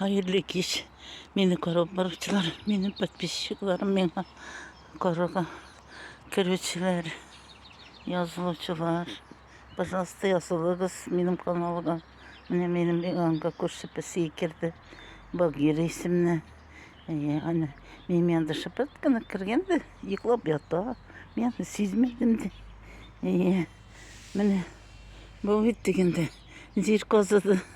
Хәерле кич. Мине күреп баручылар, минем подписчикларым, миңа карага керүчеләр, язылучылар. Пожалуйста, язылыгыз минем каналга. Менә минем янга күрше песи керде. Багира исемле. Әйе, аны минем янда шыпырт кына кергән дә, йоклап ята. Мин аны сизмәдем дә. Әйе. Менә бу бит дигәндә, җир казыды.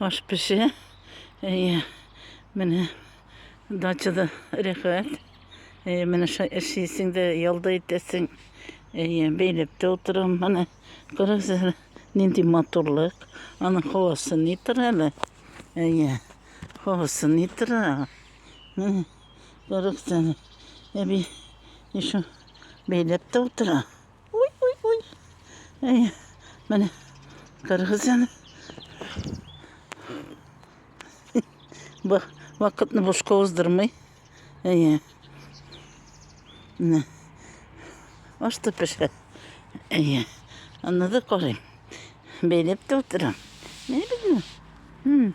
Аш пеше. Әйе. Менә дачада рәхәт. Әйе, менә эшлисең дә, ялда итәсең. Әйе, бәйләп тә утырам. Менә күрәсез, нинди матурлык. Аның һавасы ни тора әле? Әйе. Һавасы ни тора? Менә күрәсез. Әби, еще бәйләп тә утыра. Уй, уй, уй. Әй, менә кыргыз яны. Бак, вакытны бушка уздырмый. Әй, менә. Ашты пешә. Әй, аны да карыйм. Бәйләп тә утырам. Менә бит. Хм.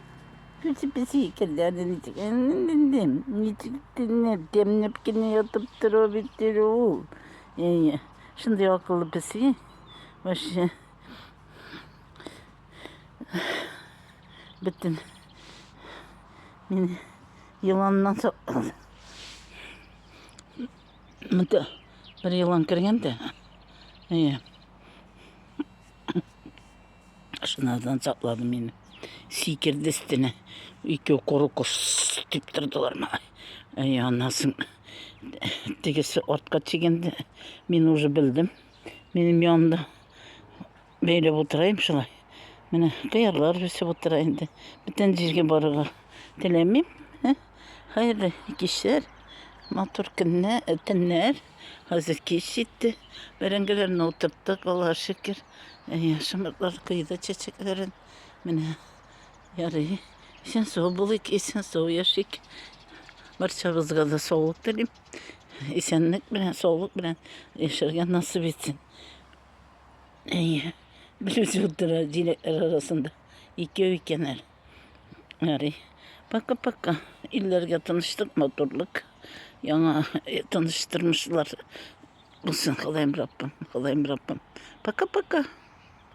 Песи песи керләде ничек ничек тенеп темнеп кенә ятып тора бит ул. Әйе, шундый акыллы песи. Вообще. Бөтен. Мин еланнан саклады. Монда бер елан кергән дә. Әйе. Шуннан саклады мине. Сикерде өстенә. Ике коры кос дип тордылар мага. Әй, анасын. Тегесе артка чигенде. Мин уже белдем. Минем янымда бәйләп утырайым шулай. Менә кыярлар үсеп утыра инде. Бүтән җиргә барырга теләмим. Хәерле кичләр, матур көннәр, төннәр. Хәзер кич җитте. Бәрәңгеләрне утырттык, Аллаһ шөкер. Яшымыклар койды чәчәкләрен. Менә ярый. Исән сау булыйк, исән сау яшик. Барчабызга да саулык телим. Исәнлек белән, саулык белән яшәргә насып итсен. Әйе. Берүзе утыра җиләкләр арасында. Икәү икәннәр. Ярый. Пока-пока. Илләргә тыныштык, матурлык. Яңа э, тыныш тормышлар булсын, Ходаем Раббым, Ходаем Раббым. Пока-пока.